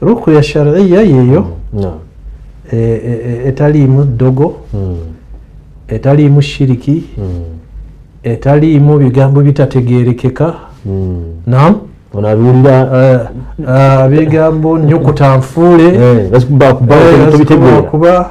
rukuya shariya yeyo e, e, e, etaliimu ddogo hmm. etaliimu shiriki hmm. etaliimu bigambo bitategerekeka hmm. nam onabiwulira eh, eh, bigambo nyukuta nfuule eh, kuba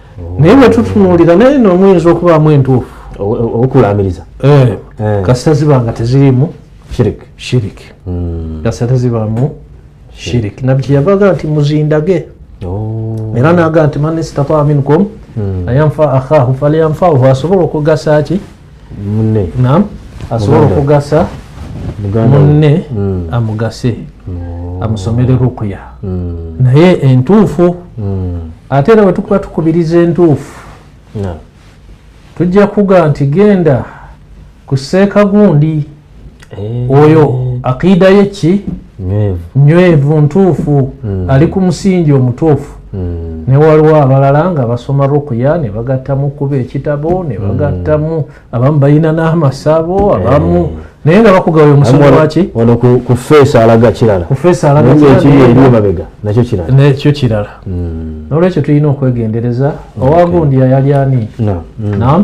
naye bwetutunuulira naye no omuyinza okubaamu entuufu okulaamiriza eh, eh. kasita ziba nga tezirimu shiriki shiriki hmm. kasita tezibaamu shiriki nabbi kyeyavaga nti muzindage oh. era naga nti man istataa minkum hmm. ayanfa akhahu falyanfahu asobola okugasa ki munne nam asobola okugasa munne mm. amugase oh. amusomere rukuya mm. naye entuufu mm. ate era wetukuba tukubiriza entuufu tujja kuga nti genda kuseeka gundi eh. oyo akiida ye ki nywevu ntuufu hmm. ali ku musingi omutuufu hmm. ne waliwo abalala nga basoma rukuya ne bagattamu kuba ekitabo ne hmm. bagattamu abamu balina n'amasabo abamu eh. naye nga bakugawa omusomo waki wano ku feesi alaga kirala ku feesi alaga kiralaekiri eri emabega nakyo kirala nakyo kirala nolwekyo tulina okwegendereza owagundiya yali ani nam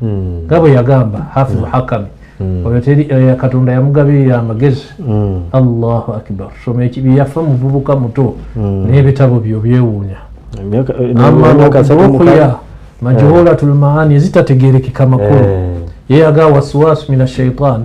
hmm. nga bwe yagamba hafizu hmm. hakami hmm. oyo teri eh, katonda yamugabirira amagezi allahu akbar soma ekibi yafa muvubuka muto n'ebitabo byo byewuunya amaokuya eh, majuhulatul maani ezitategerekeka makulu eh. yeyaga waswasu min ashaitan